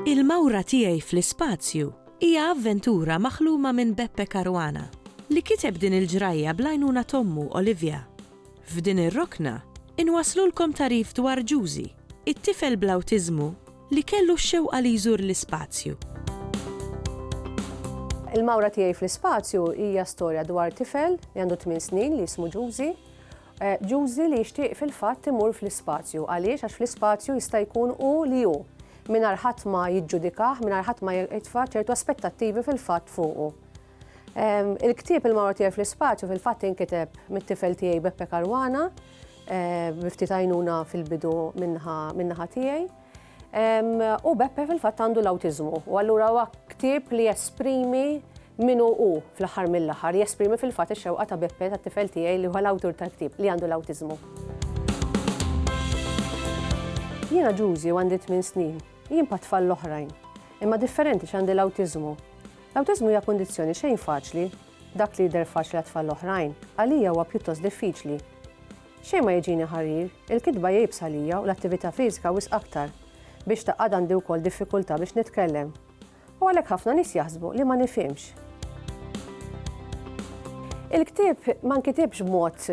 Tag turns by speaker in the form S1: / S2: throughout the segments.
S1: Il-Mawra Tiegħi fl-Ispazju hija avventura maħluma minn Beppe Caruana, li kiteb din il-ġrajja bl-għajnuna t'ommu Olivia. F'din ir-rokna, inwasslulkom tagħrif dwar Ġużi, it-tifel bl-awtiżmu li kellu x-xewqa li jżur l-ispazju.
S2: Il-Mawra Tiegħi fl-Ispazju hija storja dwar tifel li għandu tmien snin li jismu Ġużi. Ġużi li jixtieq fil-fatt imur fl-ispazju. Għaliex? Għax fl-ispazju jista' jkun hu li hu, mingħajr ħadd ma jiġġudikah, mingħajr ħadd ma jitfa' ċertu aspettattivi fil-fatt fuqu. Il-ktieb il-Mawra Tiegħi fl-Ispaċju fil-fatt inkiteb mit-tifel tiegħi Beppe Karwana, biftit għajnuna fil-bidu minnaħa tiegħi. U Beppe fil-fatt għandu l-awtiżmu, u allura huwa ktieb li jesprimi min hu hu fl-aħħar mill-aħħar, jesprimi fil-fatt ix-xewqa ta' Beppe tat-tifel tiegħi li huwa l-awtur tal-ktieb li għandu l-awtiżmu. Jiena Ġużi u għandi tmien snin, jien bħat-tfal l-oħrajn, imma differenti għax għandi l-awtiżmu. L-awtiżmu hija kundizzjoni xejn faċli. Dak li jidher faċli għat-tfal l-oħrajn, għalija huwa pjuttost diffiċli. Xejn ma jiġini ħarir, il-kitba hija iebsa għalija u l-attività fiżika wisq aktar. Biex tgħaqqad għandi wkoll diffikultà biex nitkellem. U għalhekk ħafna nies jaħsbu li ma nifhimx. Il-ktieb ma nkitibx b'mod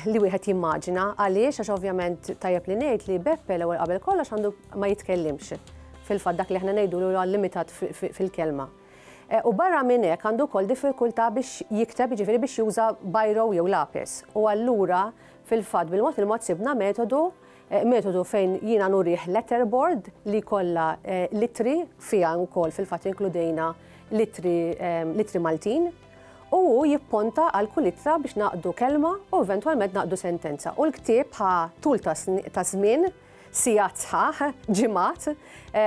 S2: li wieħed jimmaġina għaliex għax ovvjament tajjeb li ngħid li Beppe l-ewwel qabel kollox għandu ma jitkellimx. Fil-fatt dak li aħna ngħidulu huwa limitat fil-kelma. U barra minn hekk għandu wkoll diffikultà biex jikteb, jiġifieri biex juża biro jew lapis. U allura fil-fatt bil-mod il-mod sibna metodu Eh, metodu fejn jiena nurih letterboard li kollha eh, litri fiha wkoll fil-fatt inkludejna litri, eh, litri Maltin u jipponta għal kull ittra biex naqdu kelma u eventwalment naqdu sentenza. U l-ktieb ħa tul ta' żmien sigħat sħaħ, ġimgħat,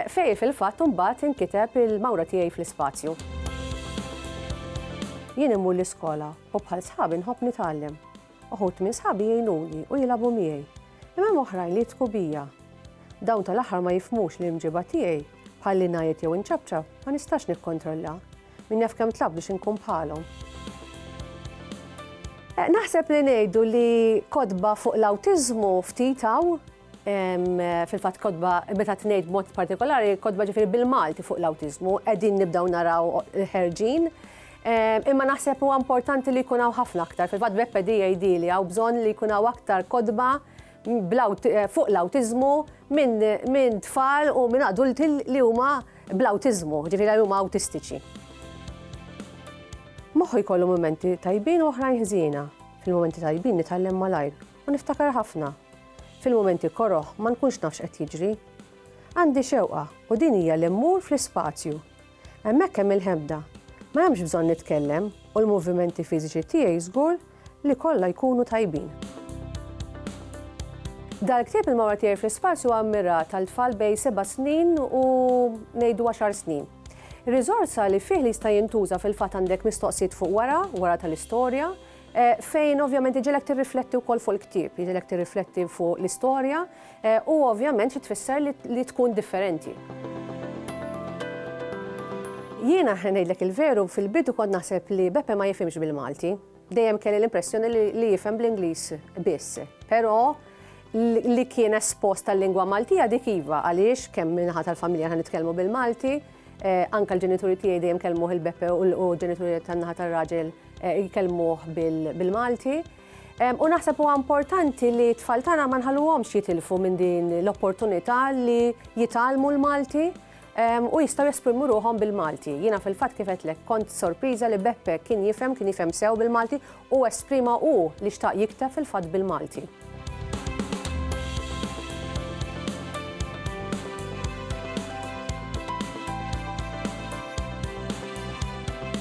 S2: fejn fil-fatt imbagħad inkiteb il-mawra tiegħi fl-ispazju. Jien immur l-iskola u bħal sħabi nħobb nitgħallem. Uħud minn sħabi jgħinuni u jilagħbu miegħi. Imma hemm oħrajn li jitku bija. Dawn tal-aħħar ma jifhmux li l-imġiba tiegħi, bħal li ngħajjed jew inċapċap, ma nistax nikkontrollha. Min jaf kemm tlabt biex inkun bħalhom. Eh, naħseb li ngħidu li kodba fuq l-awtiżmu ftit hawn fil-fatt kodba meta tnejt mod partikolari kodba ġifieri bil-Malti fuq l-awtiżmu qegħdin nibdew naraw ħerġin. Imma naħseb huwa importanti li jkun hawn ħafna aktar. Fil-fatt b'EPDAD li hawn bżonn li jkun hawn aktar kodba fuq l-awtiżmu minn tfal u minn adulti li huma bl-awtiżmu, ġifieri li huma awtistiċi. Moħħu jkollu mumenti tajbin u oħrajn ħżiena. Fil-mumenti tajbin nitgħallem malajr u niftakar ħafna. Fil-mumenti koroh ma nkunx nafx qed jiġri. Għandi xewqa u din hija li mmur fl-ispazju, Hemmhekk hemm il-ħebda. Ma hemmx bżonn nitkellem u l-movimenti fiżiċi tiegħi żgur li kollha jkunu tajbin. Dal-ktieb Il-Mawra Tiegħi fl-Ispazju huwa mmirat għal tfal bejn seba' snin u ngħidu għaxar snin. Ir-riżorsa li fih li jista' jintuża fil-fatt għandek mistoqsijiet fuq wara, wara tal-istorja, fejn ovvjament iġielek tirrifletti wkoll fuq il-ktieb, iġielek tirrifletti fuq l-istorja, Eh, u ovvjament li tfisser li tkun differenti. Jiena ngħidlek il-veru fil-bidu kont naħseb li Beppe ma jifhimx bil-Malti. Dejjem kelli l-impressjoni li jifhem bl-Ingliż biss. Però li kien espost tal-lingwa Maltija dik iva għaliex kemm minħat tal-familja ħan nitkellmu bil-Malti, eh, anka l-ġenituri tiegħi dejjem kellmuh il-Beppe u l-ġenituri tan-naħa tar-raġel eh, jkellmuh bil-Malti. U naħseb huwa importanti li t-tfal tagħna ma nħalluhomx jitilfu minn din l-opportunità li jitalmu l-Malti u jistgħu jesprimu ruħhom bil-Malti. Jiena fil-fatt kif qedlek kont sorpriża li Beppe kien jifhem, kien jifhem sew bil-Malti u esprima hu li xtaq jikteb fil-fatt bil-Malti.